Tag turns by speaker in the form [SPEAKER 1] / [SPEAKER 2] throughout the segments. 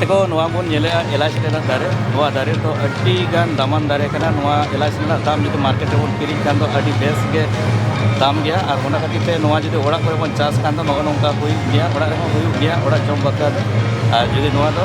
[SPEAKER 1] ᱛᱮᱠᱚ ᱱᱚᱣᱟ ᱵᱚᱱ ᱧᱮᱞᱮᱜᱼᱟ ᱮᱞᱟᱪ ᱨᱮᱱᱟᱜ ᱫᱟᱨᱮ ᱱᱚᱣᱟ ᱫᱟᱨᱮ ᱫᱚ ᱟᱹᱰᱤ ᱜᱟᱱ ᱫᱟᱢᱟᱱ ᱫᱟᱨᱮ ᱠᱟᱱᱟ ᱱᱚᱣᱟ ᱮᱞᱟᱪ ᱨᱮᱱᱟᱜ ᱫᱟᱢ ᱡᱩᱫᱤ ᱢᱟᱨᱠᱮᱴ ᱨᱮᱵᱚᱱ ᱠᱤᱨᱤᱧ ᱠᱷᱟᱱ ᱫᱚ ᱟᱹᱰᱤ ᱵᱮᱥ ᱜᱮ ᱫᱟᱢ ᱜᱮᱭᱟ ᱟᱨ ᱚᱱᱟ ᱠᱷᱟᱹᱛᱤᱨ ᱛᱮ ᱱᱚᱣᱟ ᱡᱩᱫᱤ ᱚᱲᱟᱜ ᱠᱚᱨᱮ ᱵᱚᱱ ᱪᱟᱥ ᱠᱷᱟᱱ ᱫᱚ ᱱᱚᱜᱼᱚ ᱱᱚᱝᱠᱟ ᱦᱩᱭᱩᱜ ᱜᱮᱭᱟ ᱚᱲᱟᱜ ᱨᱮᱦᱚᱸ ᱦᱩᱭᱩᱜ ᱜᱮᱭᱟ ᱚᱲᱟᱜ ᱡᱚᱢ ᱵᱟᱠᱷᱨᱟ ᱫᱚ ᱟᱨ ᱡᱩᱫᱤ ᱱᱚᱣᱟ ᱫᱚ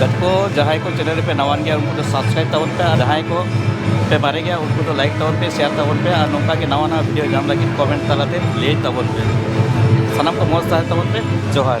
[SPEAKER 1] ᱜᱟᱛᱠᱚ ᱡᱟᱦᱟᱸᱭ ᱠᱚ ᱪᱮᱱᱮᱞ ᱨᱮᱯᱮ ᱱᱟᱣᱟᱱ ᱜᱮᱭᱟ ᱩᱱᱠᱩ ᱫᱚ ᱥᱟᱵᱥᱠᱨᱟᱭᱤᱵ ᱛᱟᱵᱚᱱ ᱯᱮ ᱟᱨ ᱡᱟᱦᱟᱸᱭ ᱠᱚ ᱯᱮ ᱢᱟᱨᱮ ᱜᱮᱭᱟ ᱩᱱᱠᱩ ᱫᱚ ᱞᱟᱭᱤᱠ ᱛᱟᱵᱚᱱ ᱯᱮ ᱥᱮᱭᱟᱨ ᱛᱟᱵᱚᱱ ᱯᱮ ᱟᱨ ᱱᱚᱝᱠᱟ ᱜᱮ ᱱᱟᱣᱟ ᱱᱟᱣᱟ ᱵᱷᱤᱰᱤᱭᱳ ᱧᱟᱢ ᱞᱟᱹᱜᱤᱫ ᱠᱚᱢᱮᱱᱴ ᱛᱟᱞᱟᱛᱮ ᱞᱟᱹᱭ ᱛᱟᱵᱚᱱ ᱯᱮ ᱥᱟᱱᱟᱢ ᱠᱚ ᱢᱚᱡᱽ ᱛᱟᱦᱮᱸ ᱛᱟᱵᱚᱱ ᱯᱮ ᱡᱚᱦᱟᱨ